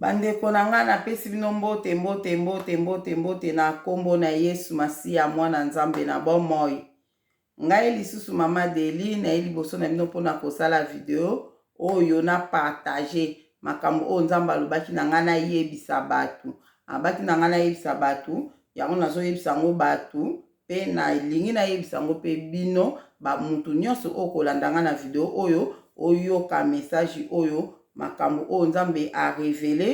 Bandeko na ngai, napesi bino mbote, mbote, mbote, mbote, mbote na kombo na Yesu Masiya, Mwana Nzambe na bomoi. Ngai lisusu Mama Deli, naye liboso na bino mpo na kosala video oyo na partage makambo oyo Nzambe alobaki na ngai nayebisa bato. Abaki na ngai nayebisa bato, yango nazoyebisa yango bato Mpe nalingi nayebisa yango mpe bino bamutu nyonso oyo kolanda ngai na video oyo, oyoka message oyo, makambo oyo Nzambe a revele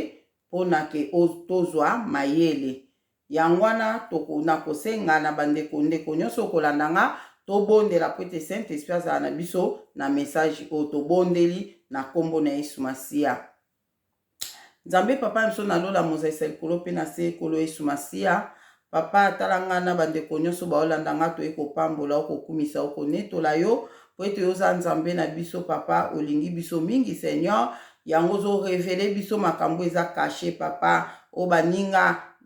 mpo na ke tozwa mayele. Yango wana nakosenga na bandeko ndeko nyonso oyo kolanda ngai, tobondela mpo ete Saint-Esprit azala na biso na message oyo. Tobondeli na nkombo na Yesu Masiya. Nzambe papa na biso na lola mozalisa likolo mpe na se kolo yesu masiya papa tala nga na bandeko nyonso baolanda nga toye kopambola okokumisa okonetola yo mpo ete oza nzambe na biso papa olingi biso mingi seigneur yango ozorevele biso makambo eza kashe papa oyo baninga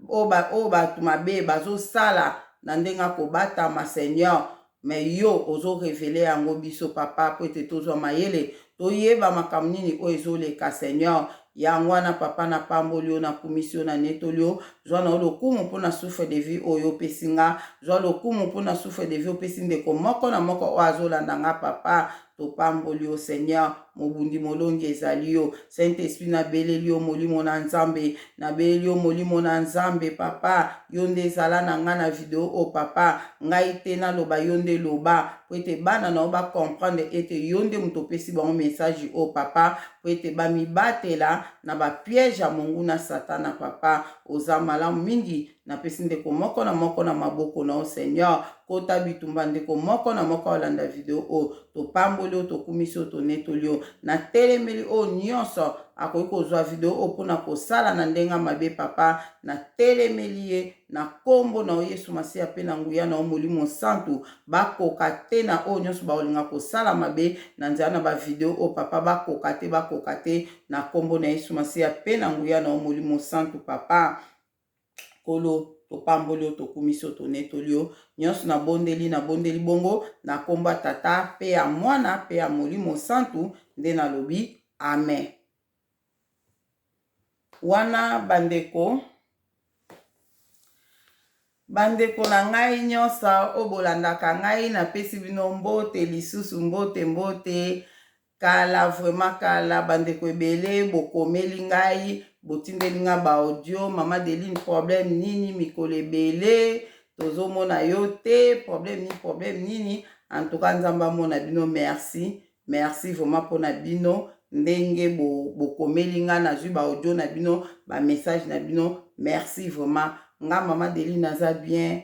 oyo bato mabe bazosala na ndenge akobatama seigneur Mais yo ozo reveler yango biso papa po ete tozwa mayele toyeba makambo nini oyo ezo leka seigneur yango wana papa na pamboli yo na kumisi yo na netoli yo zwa na yo lokumu po na souffle de vie oyo opesi nga zwa lokumu po na souffle de vie opesi ndeko moko na moko oyo azo landa nga papa topamboli yo seigneur mobundi molongi ezali yo saint esprit nabeleli yo molimo na nzambe nabeleli yo molimo na nzambe papa yo nde ezala na ngai na video oyo oh, papa ngai te naloba yo nde loba mpo ete bana na yo bacomprendre ete yo nde moto opesi bango message oyo oh, papa mpo ete bamibatela na bapiège ya monguna satana papa oza malamu mingi napesi ndeko moko na moko na maboko na yo seigneur kota bitumba ndeko moko na moko olanda video oyo topamboli oyo tokumisi oyo tonetoli yo natelemeli oyo nyonso akoki kozwa video oyo mpo na kosala na ndenge ya mabe papa natelemeli ye na nkombo na yo yesu masiya mpe na nguya na yo molimo nsantu bakoka te na oyo nyonso bakolinga kosala mabe na nzela na bavideo oyo papa bakoka te bakoka te na nkombo na yesu masiya mpe na nguya na yo molimo nsantu papa Nkolo, topamboli yo, tokumisi yo, tonetoli yo. Nyonso nabondeli, nabondeli bongo na nkombo ya Tata mpe ya Mwana mpe ya Molimo Santu, nde nalobi, Amen. Wana bandeko bandeko na ngai nyonso oyo bolandaka ngai napesi bino mbote lisusu mbote mbote Kala vraiment kala bandeko ebele bokomeli ngai botindeli ngai ba audio mama Deline problème nini mikolo ebele tozomona yo te problème nini problème nini en tout cas nzambe amona bino merci merci vraiment mpona bino ndenge bokomeli bo ngai nazwi ba audio na bino ba message na bino merci vraiment nga mama Deline naza bien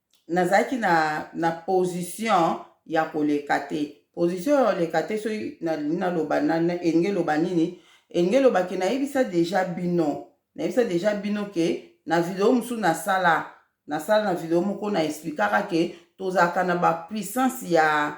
nazalaki na, na position ya koleka te. Position ya koleka te soki nalingi naloba na, na elingi eloba nini? Elingi eloba ke nayebisa deja bino, nayebisa deja bino ke na video mosusu nasala, nasala na video moko na explikaka ke tozalaka na ba puissance ya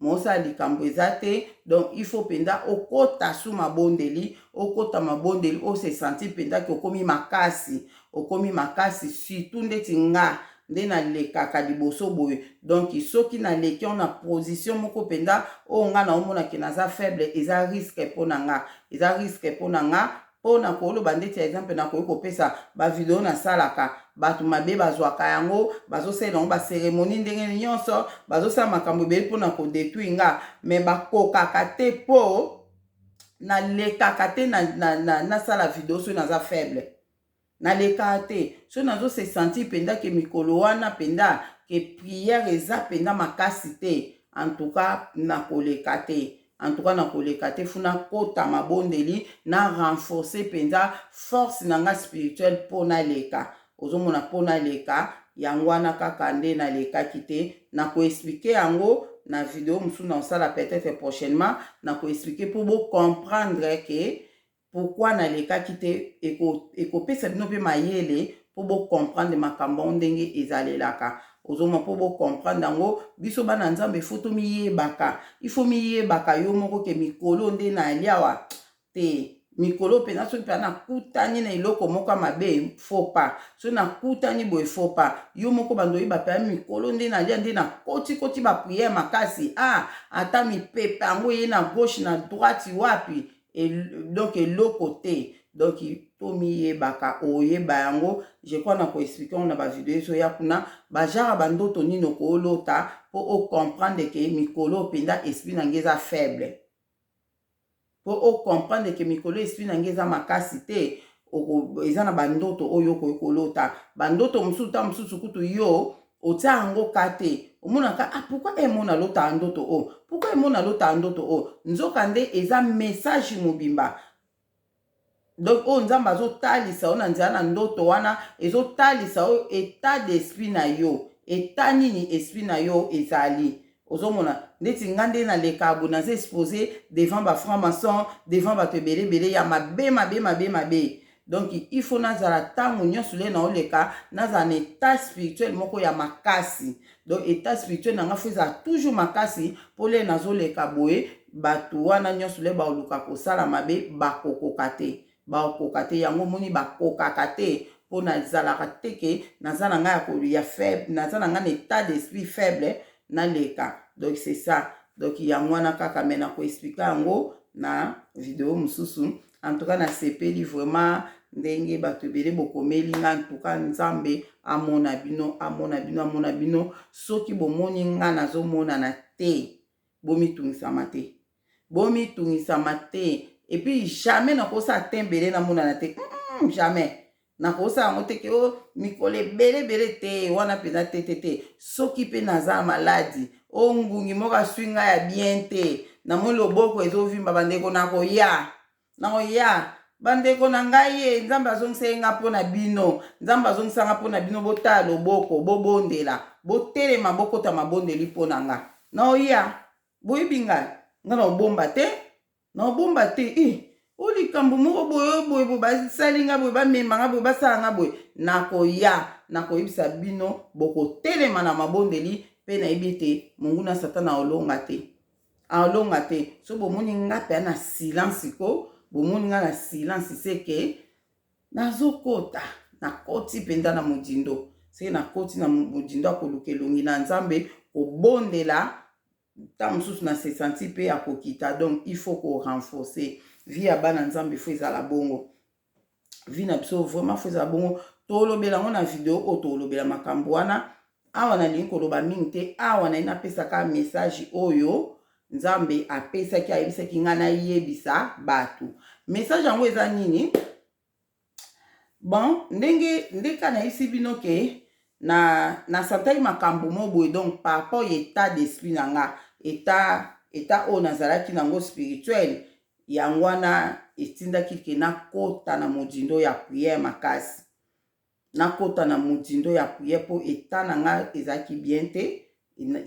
mosala likambo eza te donc il faut mpenza okota su mabondeli okota mabondeli o se sentir mpenza ke okomi makasi okomi makasi surtout ndeti nga nde nalekaka liboso boye donc soki naleki yango na position moko mpenza oyo nga naomonake naza faible eza risque mpo na nga eza risque mpo na nga mpo na koloba ndeti ya exemple nakoki kopesa bavideo nasalaka bato mabe bazwaka yango bazosalela yango baseremoni ndenge nyonso bazosala makambo ebele mpo na kodetruire nga me bakokaka te mpo nalekaka te nasala na, na, na video soki naza faible nalekaa te so nazo se sentir mpenza ke mikolo wana mpenza ke prière eza mpenza makasi te en tout cas nakoleka te en tout cas nakoleka te funa kota mabondeli na renforcer mpenza force na nga spirituelle mpo naleka ozomona mpo naleka yango wana kaka nde nalekaki te nakoexplike yango na video mosusu na kosala peut-être prochainement nakoexplike mpo bocomprendre ke pourquoi na lekaki te eko ekopesa bino pe mayele po bo comprendre makambo yango ndenge ezalelaka ozomona po bo comprendre yango biso bana nzambe il faut tomiyebaka il faut miyebaka yo moko ke mikolo nde naliawa te mikolo mpenza soki mpenza nakutani na eloko moko ya mabe fo pa soki nakutani boye fo pa yo moko bando oyeba mpenza mikolo nde nalia nde nakotikoti bapriere makasi a ah, ata mipepe yango eye na gauche na droite wapi donc eloko te donc tomiyebaka oyeba yango je crois na koexplike yango na bavideo ezoya kuna bajara bandoto nini okolota mpo ocomprendre ke mikolo oyo mpenza esprit na ngai eza faible mpo ocomprendre ke mikolo esprit na ngai eza makasi te eza na bandoto oyo okoki kolota bandoto mosusu ntango mosusu kutu yo Otia yango cas te. Omona ka ah pourquoi eh mona lota ndoto oh pourquoi eh mona lota ndoto oh nzoka nde eza message mobimba donc oyo nzambe azotalisa yo na nzela na ndoto wana ezotalisa yo etat d'esprit na yo etat nini esprit na yo ezali ozomona ndeti nga nde naleka boye naza expose devant ba franc maçon devant bato ebele ebele ya mabe mabe mabe mabe donc il faut nazala ntango nyonso le naoleka nazala na etat spirituel moko ya makasi donc etat spirituel na nga fo ezala toujours makasi mpo le nazoleka boye bato wana nyonso le baoluka kosala mabe bakokoka te Bakoka te yango omoni bakokaka te pona ezalaka te ke naza na nga ya ko ya faible naza na nga na etat d'esprit faible naleka donc c'est ça donc yango wana kaka mais nako explique yango na video mususu en tout cas nasepeli vraiment ndenge bato ebele bokomeli nga en tout cas nzambe amona bino amona bino amona bino soki bomoni nga nazomonana te bomitungisama te bomitungisama te et puis jamais nakosala te ebele namonana te mm, jamais nakosala yango te ke o oh, mikolo ebele ebele te wana mpenza te te te soki mpe naza maladi o oh, ngungi moko aswi ngai ya bien te namoni loboko ezovimba bandeko nakoya nakoya bandeko na ngai ye nzambe azongisa ye ngai mpo na bino nzambe azongisa ngai mpo na bino botala loboko bobondela botelema bokota mabondeli mpo na ngai naoya boyebi ngai ngai na obomba te na obomba te i eh, o likambo moko boye boye boye basali ngai boye bamema ngai boye basala ngai boye nakoya nakoyebisa bino bokotelema na mabondeli mpe nayebi ete monguna satana aolonga te aolonga te so bomoni ngai mpe na silence ko bomoni ngai na silence seke Nazokota, nakoti mpenza na mozindo. Soki nakoti na mozindo ya koluka elongi na Nzambe, kobondela, ntango mosusu na se santi mpe ya kokita. Donc, il faut ko renforcer. Vie ya bana Nzambe, il faut ezala bongo. Vie na biso, vraiment, faut ezala bongo. Tolobela yango na video oyo, tolobela makambo wana. Awa nalingi koloba mingi te awa naye napesaka message oyo nzambe apesaki ayebisaki ngai nayebisa bato message yango eza nini bon ndenge ndeka nayebisi bino ke na nasantaki makambo mo boye donc par rapport ya etat d'esprit na nga etat etat oyo nazalaki nango spirituel yango wana etindaki ke nakota na modindo ya priere makasi nakota na motindo ya prière mpo eta na nga ezalaki bien te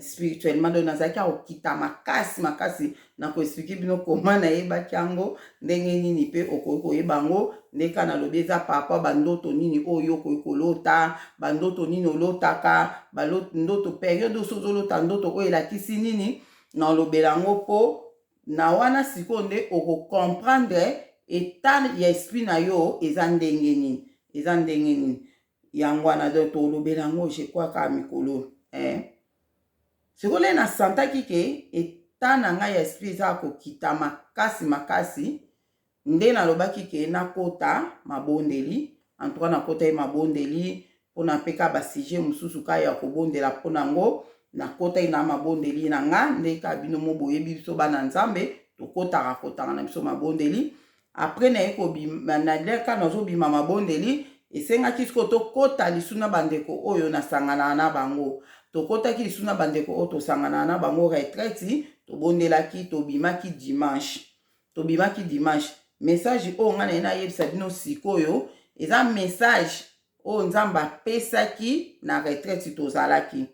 spirituellement donc nazalaki ya kokita makasi makasi na koexplike bino koma nayebaki yango ndenge nini mpe okoki koyeba yango ndenge kaka nalobi eza parapa bandoto nini oyo okoki kolota bandoto nini olotaka ndoto periode oso ozolota ndoto oyo elakisi nini nalobela yango mpo Na wana sikoyo nde oko comprendre etat ya esprit na yo eza ndenge nini, eza ndenge nini. Yango wana donc to lobela yango je crois kaka mikolo oyo eh. Sikoyo nde na sentaki que etat na ngai ya esprit eza ya kokita makasi makasi. Nde nalobaki ke nakota mabondeli, en tout cas nakotaki mabondeli pona pe ka ba sujet mususu ka ya kobondela pona yango, nakotaki na mabondeli na nga nde ka bino mo boyebi biso bana Nzambe tokotaka kotanga na biso mabondeli, apres naye kobima na lien ka nazobima mabondeli esengaki sikoyo tokota lisu na bandeko oyo nasanganaka na bango, tokotaki lisu na bandeko oyo tosanganaka na bango retraite, tobondelaki tobimaki dimanche, tobimaki dimanche message oyo ngai naye nayebisa bino sikoyo eza message oyo nzambe apesaki na retraite tozalaki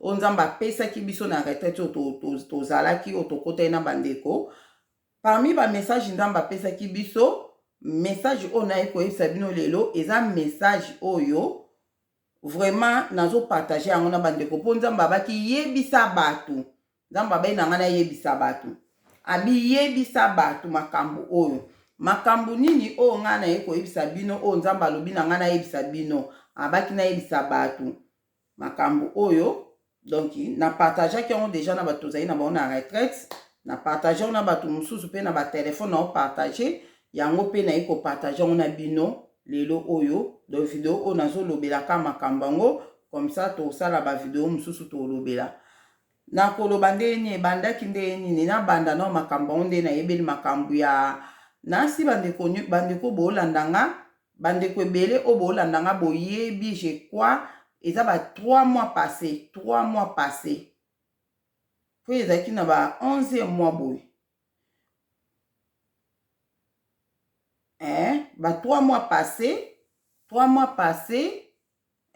oyo nzambe apesaki biso na retraite oyo tozalaki oyo tokotaki na bandeko parmi bamessage nzambe apesaki biso message oyo naye koyebisa bino lelo eza message oyo vraiment nazopartage yango na bandeko mpo nzambe abaki yebisa bato nzambe abai na ngai nayebisa bato abiyebisa bato makambo oyo makambo nini oyo ngai naye koyebisa bino oyo nzambe alobi na ngai nayebisa bino abaki nayebisa bato makambo oyo donc na partageaki yango deja na bato tozali na bango na retraite na partage yango na bato mosusu mpe na batelefone nao partage yango mpe naye kopartage yango na bino lelo oyo donc video oyo nazolobelaka makambo yango comme ça tosala bavideo mosusu tolobela Na koloba ndenge nini ebandaki ndenge nini na banda nao makambo yango nde na yebeli makambo ya nasi bandeko bandeko bolanda nga bandeko ebele oyo bolanda nga boyebi je crois eza ba 3 mois passe 3 mois passe po ezalaki na ba 11 mois boye eh ba 3 mois passe 3 mois passe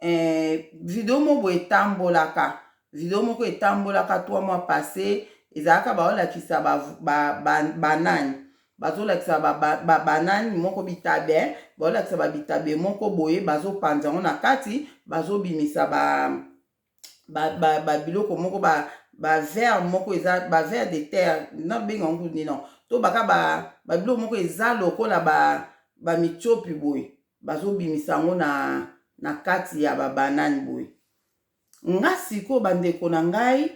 eh, video moko boye etambolaka video moko etambolaka trois mois passe ezalaka baolakisa banani ba, ba, ba bazolakisa babanani ba, ba moko bitabe baolakisa babitabe moko boye bazopanza yango na kati bazobimisa ba, ba, ba, ba biloko moko ba bavere moko eza bavere de terre nabenga yango nini to baka babiloko moko eza lokola bamitiopi ba boye bazobimisa yango na, na kati ya babanane boye nga sikoyo bandeko na ngai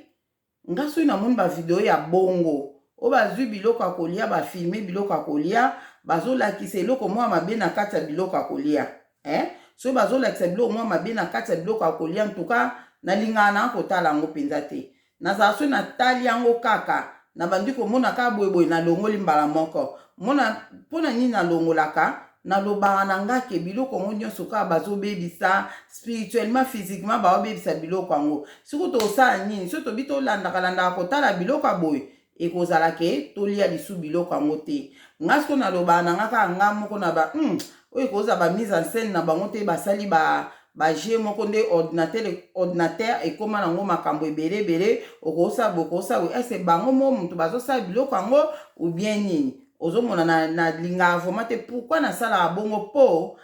nga soki namoni bavideo ya bongo oyo bazwi biloko ya kolia bafilme biloko ya kolia bazolakisa eloko mwa mabe na kati ya biloko ya kolia eh? soki bazolakisa biloko mwa mabe na kati ya biloko ya kolia ntuka nalingaka na kotala yango mpenza te Nazala soki natali yango kaka, nabandi komona kaka boye boye, nalongoli mbala moko. Mona, mpo na nini nalongolaka? Nalobaka na ngai ke biloko yango nyonso kaka bazobebisa, spirituellement, physiquement, baobebisa biloko yango. Sikoyo tokosala nini? Soki tobi tolandaka landaka kotala biloko ya boye, ekozala ke tolia lisu biloko yango te nga siko naloba na nga kaka nga moko na ba hmm, oyo ekozala ba mise en scène na bango te basali ba baje moko nde ordinateur ordinateur ekóma nango makambo ebele ebele okosala bokosala boye ese bango mo moto bazosala biloko yango ou bien nini ozomona nalingaka na vraiment te pourkui nasalaka bongo mpo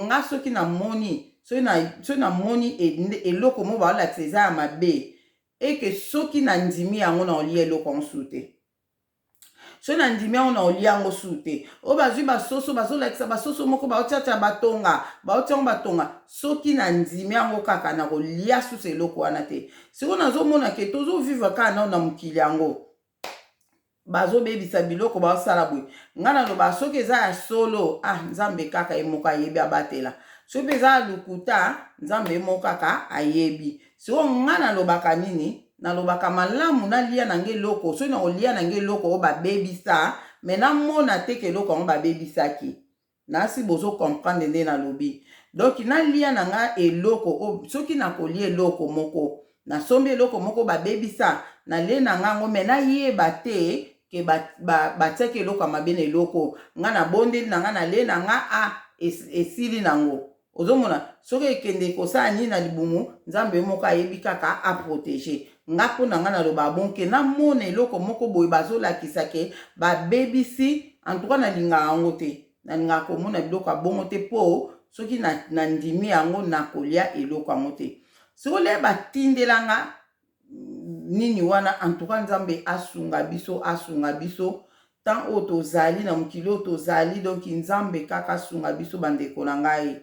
nga soki namoni soki namoni eloko mo baolakisa eza ya mabe et que soki na ndimi yango na olia eloko yango sous te soki na ndimi yango na olia yango sous te oyo bazwi basoso bazolakisa basoso moko baotiatia batonga baotia yango batonga soki na ndimi yango kaka na kolia susu eloko wana te sikoyo nazomona ke tozovivre kaka nao na mokili yango bazobebisa biloko basala boye ngai naloba soki eza ya solo ah nzambe kaka ye moko ayebi abatela soki mpe eza ya lokuta nzambe ye moko kaka ayebi soko ngai nalobaka nini nalobaka malamu nalia na ngai eloko soki nakolia na ngai eloko oyo babebisa me namona te ke eloko yango babebisaki Nasi bozo comprendre nde na lobi donc na lia na nga eloko oyo soki na kolia eloko moko na sombi eloko moko ba bebisa na lie na nga yango mais na yeba te que ba ba ba tiaki eloko ya mabe na eloko oyo nga na bondeli na nga na lie na nga ah esili na ngo ozomona soki ekende kosala nini na libumu nzambe yo moko ayebi kaka aprotege nga mpo na nga naloba bonke namona eloko moko boye bazolakisa ke babebisi antuka nalingaka yango te nalingaka komona biloko ya bongo te mpo soki nandimi yango nakolia eloko yango te soki olie batindela nga nini wana en tout cas nzambe asunga biso asunga biso temps oyo tozali na mokili oyo tozali donc nzambe kaka asunga biso bandeko na ngai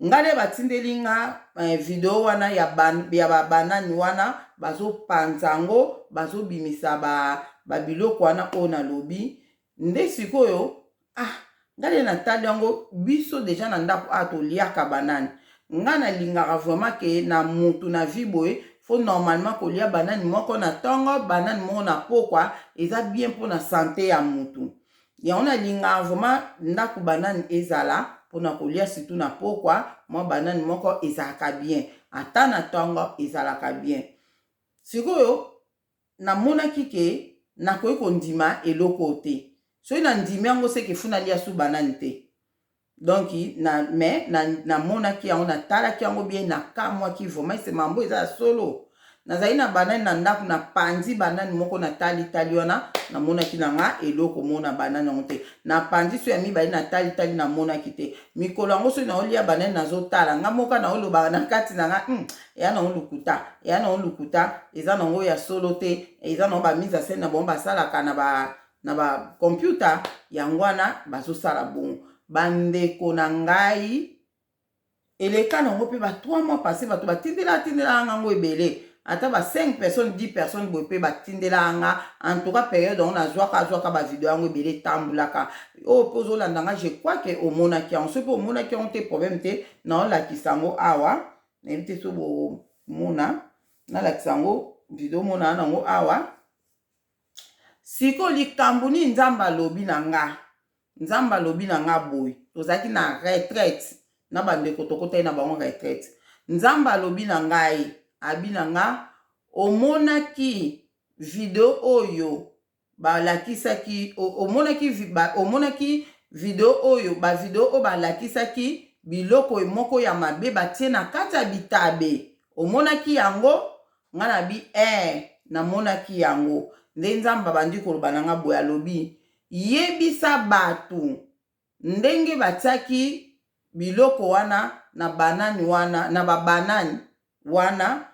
ngai nde batindeli nga eh, video wana ya, ban, ya babanani wana bazopanza yango bazobimisa ba, babiloko wana oyo nalobi nde sikoyo ah nga nde natali yango biso deja na ndako awa toliaka banani nga nalingaka vraiment ke na mutu na vie boye fo normalement kolia banani moko na ntongo banani moko na pokwa eza bien mpo na sante ya mutu yango nalingaka vraiment ndako banani ezala mpo na kolia situ na pokwa mwa banani moko ezalaka bien ata na ntongo ezalaka bien sikoyo namonaki ke nakoki kondima eloko oyo te soki na ndimi yango ce que faut nalia su banane te donc na mais na namonaki yango na talaki yango bien na kamwaki vraiment ese mambo eza ya solo nazali na banane na ndako na panzi banane moko na tali tali wana namonaki na nga eloko mona banane yango te na panzi so ya mibale na tali tali namonaki te mikolo yango soki naolia banane nazotala nga moka naolobaka na kati na nga hmm, eya nango lokuta eya nango lokuta eza nango ya solo te eza nango bamise ya sene na bango basalaka na ba na bacomputa yango wana bazosala bongo bandeko na ngai eleka nango mpe ba 3 mois passe bato batindela atindelaka ngango ebele ata ba 5 personnes 10 personnes boye mpe batindelaka nga en tout cas periode yango nazwaka azwaka bavideo yango ebele etambulaka oyo mpe ozolanda nga je crois ke omonaki yango soki mpe omonaki yango te problème te naolakisa yango awa nayebi te so bomona nalakisa yango video omona na yango awa sikoyo likambo nini nzambe alobi na nga nzambe alobi na nga boye tozalaki na retraite na bandeko tokotaki na bango retraite nzambe alobi na ngai abi na nga omonaki video oyo balakisaki omonaki omonaki video oyo bavideo oyo balakisaki biloko moko ya mabe batie na kati ya bitabe omonaki yango ngai nabi ee eh, namonaki yango nde nzambe abandi koloba na ngai boye alobi yebisa bato ndenge batiaki biloko wana na banani wana na babanani wana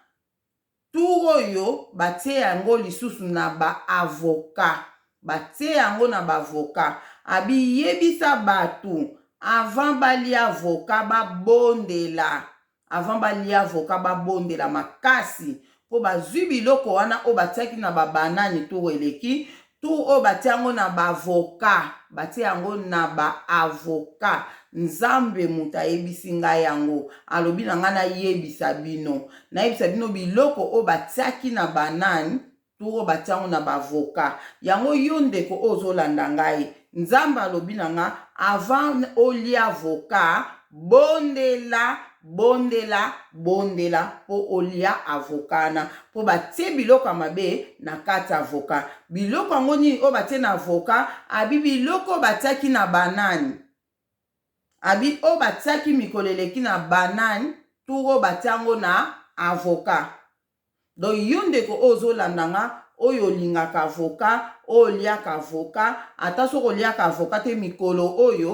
Tour oyo batie yango lisusu na ba avocats batie yango na ba avocats abi yebisa batu avant balia avocats babondela avant balia avocats babondela makasi po bazui biloko wana oyo batiaki na ba banane tour eleki Tour oyo batie yango na ba avocat, batie yango na ba avocat. Nzambe moto ayebisi ngai yango, alobi na ngai nayebisa bino, nayebisa bino biloko oyo batiaki na ba nani, tour oyo batie yango na ba avocat. Yango yo ndeko oyo ozolanda ngai, Nzambe alobi na nga avant olia avocat bondela bondela bondela po olia avocat wana po batie biloko ya mabe na kati ya avocat biloko yango nini oyo batie na avocat abi biloko oyo batiaki na banane abi oyo batiaki mikolo eleki na banane tour oyo batia yango na avocat Donc yo ndeko oyo ozo landa nga oyo olingaka avocat, oyo oliaka avocat, ata soki oliaka avocat te mikolo oyo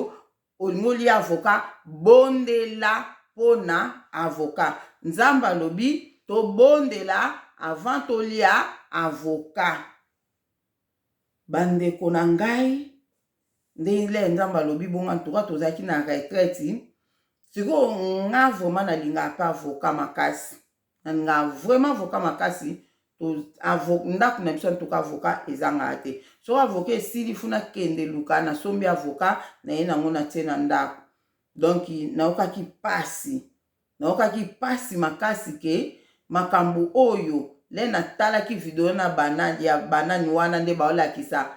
olingi olia avocat bondela pona avocat. Nzambe alobi tobondela avant tolia avocat. Ba ndeko na ngai ndele Nzambe alobi bongo en tout cas tozalaki na retraite. Sikoyo nga vraiment nalingaka pe avocat makasi. nga vraiment avocat makasi ndaku na biso antuka avocat ezangaa te soki avocat esili funa kende luka nasombi avocat naye nango natie na ndaku donc nayokaki pasi nayokaki pasi makasi ke makambo oyo le natalaki video na banani ya banani wana nde baolakisa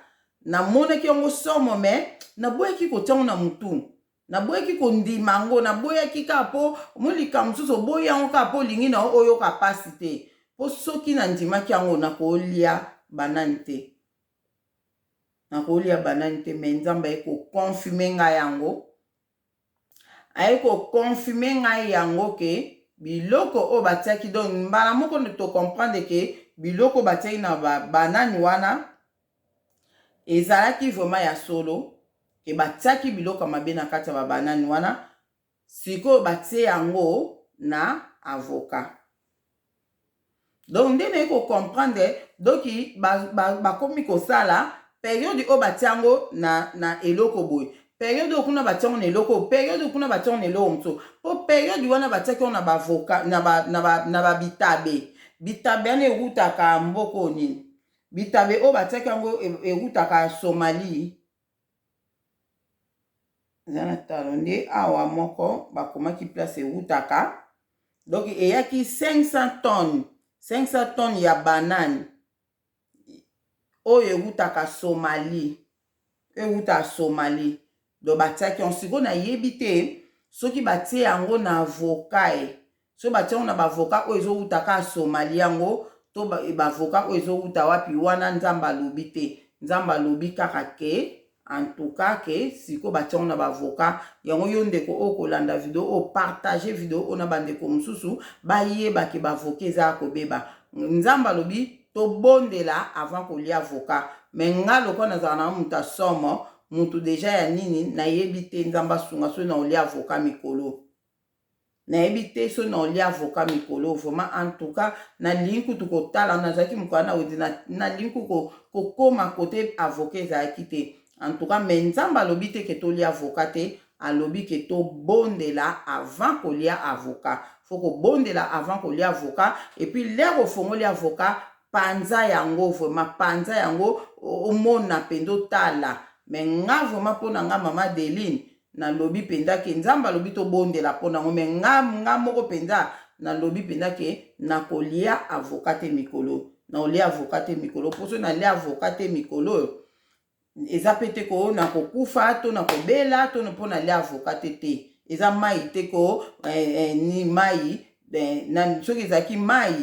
namonaki yango somo me naboyaki kotiango na motu naboyaki kondima yango naboyaki kaka mpo omoni likambo mosusu oboyi yango kaka mpo olingi na yo oyoka mpasi te mpo soki nandimaki yango nakolia banani te nakolia banani te me nzambe aye koconfime ngai yango aye koconfime ngai yango ke biloko oyo batiaki donc mbala moko nde tocomprendre ke biloko batiaki na banani wana Ezalaki vraiment ya solo que batiaki biloko ya mabe na kati ya ba banane wana, sikoyo batie yango na avocat. Donc nde naye ko comprendre donc bakomi kosala periode oyo batie yango na, na eloko boye periode oyo kuna batie yango na eloko periode oyo kuna batie yango na eloko mosusu mpo periode wana batiaki yango na bavoka na babitabe bitabe wana ewutaka mboko nini Bitabe oyo batiaki yango ewutaka Somalie. Eza na talo nde awa moko bakomaki place ewutaka. Donc eyaki 500 tonnes, 500 tonnes ya banane oyo ewutaka Somalie. ewuta Somalie donc batiaki yango sikoyo nayebi te soki batie yango na avocat e soki batie yango na ba avocat oyo ezowuta ka Somalie yango to ba avocat oyo ezowuta wapi wana nzambe alobi te nzambe alobi kaka ke en tout ka ke sikoyo batie yango na ba avocat yango yo ndeko oyo kolanda video oyo partage video oyo na bandeko mosusu bayeba ke ba avocat eza ya kobeba nzambe alobi tobondela avant kolia avocat mais nga lokola nazala na mutu ya somo mutu deja ya nini nayebi te nzambe asunga soki na olia avocat mikolo nayebi te soki na olia avocat mikolo vraiment en tout cas nalingi kutu kotala nazalaki mokala na wedi nalingi kutu kokoma kote avocat ezalaki te en tout cas mais nzambe alobi te ke tolia avocat te alobi ke tobondela avant kolia avocat faut kobondela avant kolia avocat et puis l'heure ofongoli avocat panza yango vraiment panza yango omona penza otala mais nga vraiment pona nga mama Deline nalobi penza ke nzambe alobi tobondela pona yango mais nga nga moko penza nalobi penza ke nakolia avocat te mikolo naolia avocat te mikolo poso nalia avocat te mikolo oyo eza pe te ko na kokufa to na kobela to mpo nalia avoka te te eza mai te ko eh, eh, ni mai eh, na, soki ezalaki mai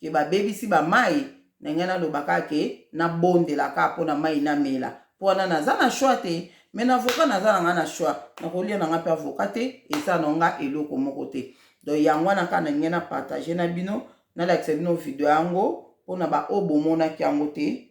ke babebisi bamai na ngai nalobaka ke nabondelaka mpo na mai namela mpo wana naza na shwa te me na avoka naza na ngai na shwa nakolia na ngai mpe avoka te eza na ngai eloko moko te donc yango wana kaka na ngai na partage na bino nalakisa bino video yango mpo na baoyo bomonaki yango te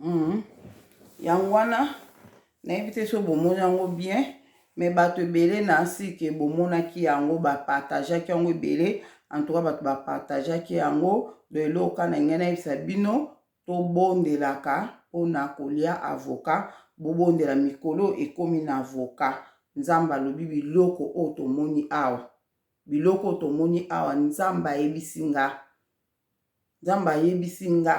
Mhm. yango wana nayebi te so bomoni yango bien me bato ebele na nsike bomonaki yango bapartageaki yango ebele antuka bato bapartageaki yango do eloko na ngai nayebisa bino Tobondelaka pona kolia avocat bobondela mikolo oyo ekomi na avocat nzambe alobi biloko oyo tomoni awa biloko oyo tomoni awa nzambe ayebisi nga nzambe ayebisi nga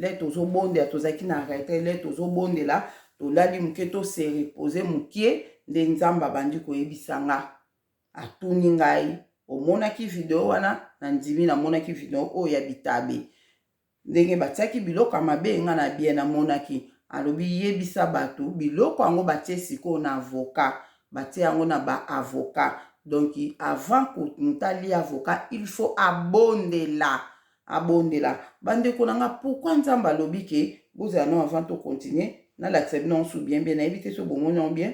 lè tozobondela tozalaki na retrait lè tozobondela tolali moke to se repose mokie nde nzambe abandi koyebisa nga atuni ngai omonaki video wana na ndimi namonaki video oyo ya bitabe Ndenge batiaki biloko ya mabe, nga na bien na monaki. Alobi yebisa batu biloko yango batie sikoyo na avocat. Batie yango na ba avocat. Donc avant ko mutu alia avocat il faut abondela. Abondela. Ba ndeko na nga pourquoi Nzambe alobi que bozala nanu avant to continuer. Nalakisa bino yango su bien bien. Nayebi te soki bomoni yango bien.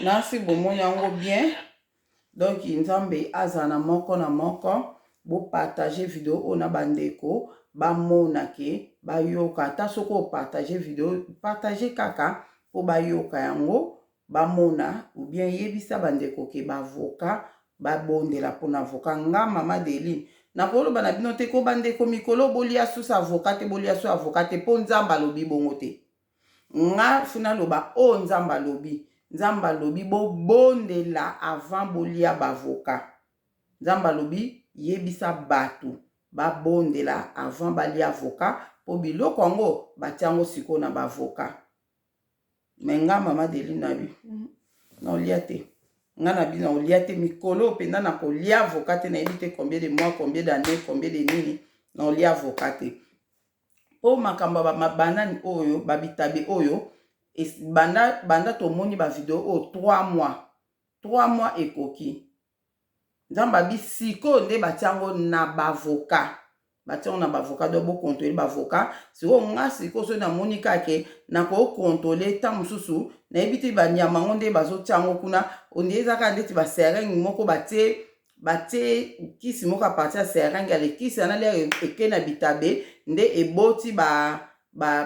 nasi bomoni yango bien donc nzambe azala na moko na moko bopartage video oyo na bandeko bamona ke bayoka ata soki opartage video partage kaka mpo bayoka yango ba mona ou bien yebisa ba ndeko ke ba avocat ba bondela pona avocat nga maman Deline nako loba na bino te ko ba ndeko mikolo bo lia sous avocat te bo lia sous avocat te po nzambe alobi bongo te nga faut na loba oyo nzambe alobi nzambe alobi bo bondela avant bo lia ba avocat nzambe alobi yebisa batu ba bondela avant ba lia avocat po biloko yango ba tia ngo sikoyo na ba avocat me nga mama deli na yo naolia te nga na bino naolia te mikolo oyo mpenza nakolia avoka te nayebi te combien de mois combien d'année combien de nini naolia avoka te mpo makambo ya babanani oyo babitabe oyo banda, banda tomoni bavideo oyo 3 mois 3 mois ekoki Nzambe abi sikoyo nde batie yango na ba avocat batie yango na ba avocat donc bo controle ba avocat sikoyo nga sikoyo soki na moni kaka ke na ko controle temps mosusu na yebi te ba nyama yango nde bazo tia yango kuna on dirait eza kaka ndeti ba seringue moko batie batie kisi moko a partir ya seringue ale kisi wana lere eke na bitabe nde eboti ba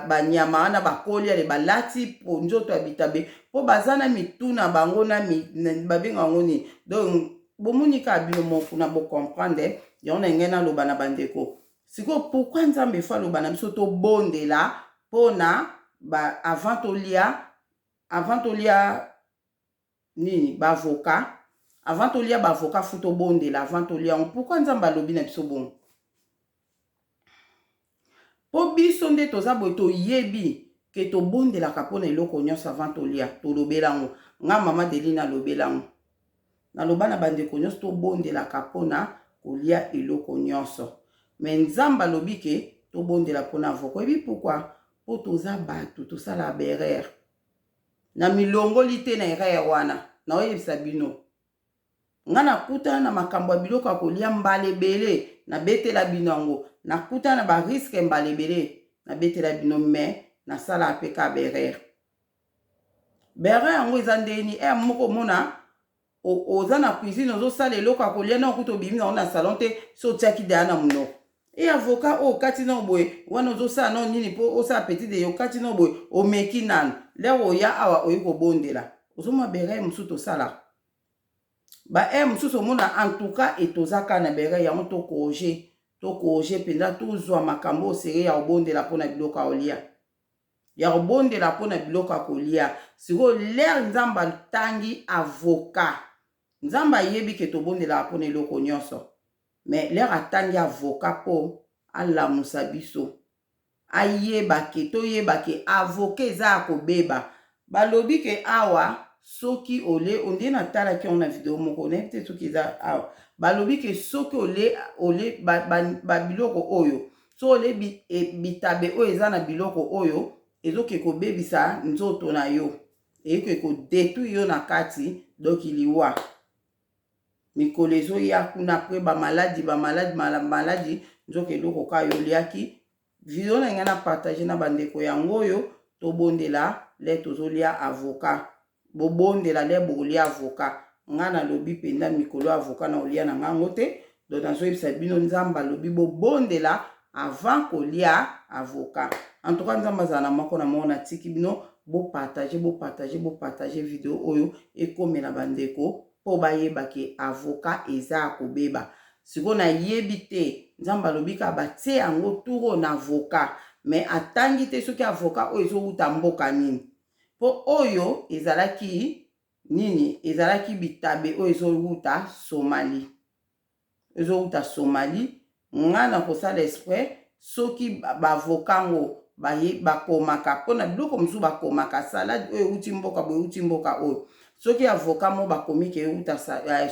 banyama ba wana bakoli ale balati po nzoto ya bitabe mpo baza na mitu na bango na babenga yango nini donc bomoni kaka bino moko kuna bocomprendre yango na ngai naloba na bandeko sikoyo pourkui nzambe fo aloba na biso tobondela mpo na avant tolia avant tolia Nini? Ba avocat? Avant tolia ba avocat faut tobondela avant tolia yango. Pourquoi Nzambe alobi na biso bongo? Po biso nde toza boye toyebi ke tobondelaka pona eloko nyonso avant tolia. Tolobela yango. Nga mama Deline alobela yango. Naloba na bandeko nyonso tobondelaka pona kolia eloko nyonso. Mais Nzambe alobi ke tobondela pona avocat. Oyebi pourquoi? Po toza batu, tosalaka ba erreur. Na milongoli te na erreur wana. Nao yebisa bino. Nga na kutana na makambo ya biloko ya kolia mbala ebele. Na betela bino yango. Na kutana na ba risques mbala ebele. Na betela bino mais na salaka pe kaka ba erreurs. Ba erreurs yango eza ndenge nini? Heure moko omona oza na cuisine ozo sala eloko ya kolia na okuta obimi nango na salon te so otiaki deja na munoko e avocat oyo okati nao boye wana ozosala nao nini mpo osala petit deye okati nao boye omeki nanu lere oya awa oye kobondela ozomona bereye mosusu tosalaka baere mosusu omona entouka etozaka na bereye yango tokoje tokoje mpenza tozwa makambo osere ya kobondela mpo na biloko ya olia ya kobondela mpo na biloko ya kolia sikoyo lere nzambe atangi avoka nzambe ayebi ke tobondelaka mpo na eloko nyonso mais lere atangi avoka mpo alamusa biso ayeba ke toyeba ke avoka eza ya kobeba Ba lobi ke awa soki ole ondire na talaki yango na video moko nayebi te soki eza awa ba lobi ke soki ole ole ba, ba, ba biloko oyo soki ole bi, e, bitabe oyo eza na biloko oyo ezoke kobebisa nzoto na yo eyoke ko detruire yo na kati donc liwa mikolo ezoya kuna apres bamaladi bamaladi maladi nzoka eloko ka yo oliaki Video na ngai na partage na ba ndeko yango oyo tobondela lè tozolia avocat bobondela lè bokolia avocat ngai nalobi mpenza mikolo oyo avocat nakolia na ngai yango te donc nazoyebisa bino nzambe alobi bobondela avant kolia avocat en tout cas nzambe azala na moko na moko natiki bino bopartage bopartage bopartage video oyo ekomela bandeko po bayeba ke avocat eza ya kobeba sikoyo na yebi te nzambe alobi kaka ba tie yango tour oyo na avocat mais atangi te soki avocat oyo ezo wuta mboka nini po oyo ezalaki nini ezalaki bitabe oyo ezo wuta Somalie ezo wuta Somalie nga nakosala espret soki ba avocat ngo baye bakomaka pona biloko mususu bakomaka salade oyo ewuti mboka boye ewuti mboka oyo soki avocat moko bakomi ke ewuta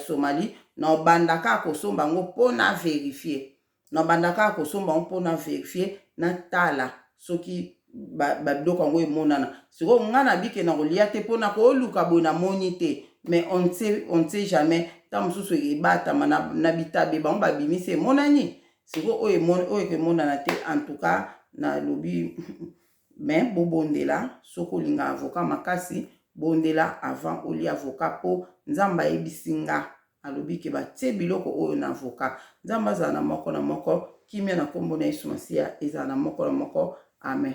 Somalie nobanda kaka kosomba yango po na verifier nobanda kaka kosomba yango po na verifier natala soki ba biloko yango emonana sikoyo nga na bike na kolia te mpo na koluka boye na moni te mais on ne sait, on ne sait jamais ta mosusu ebatama na, na bitabe bango babimisi emonani sikoyo oyo emoni oyo emonana te en tout cas nalobi mais bobondela soki olinga avocat makasi bondela avant olia avocat mpo nzambe ayebisi nga Alobi que ba tie biloko oyo na avocat. Nzambe azala na moko na moko kimia na kombo na yesu masiya ezala na moko na moko amen.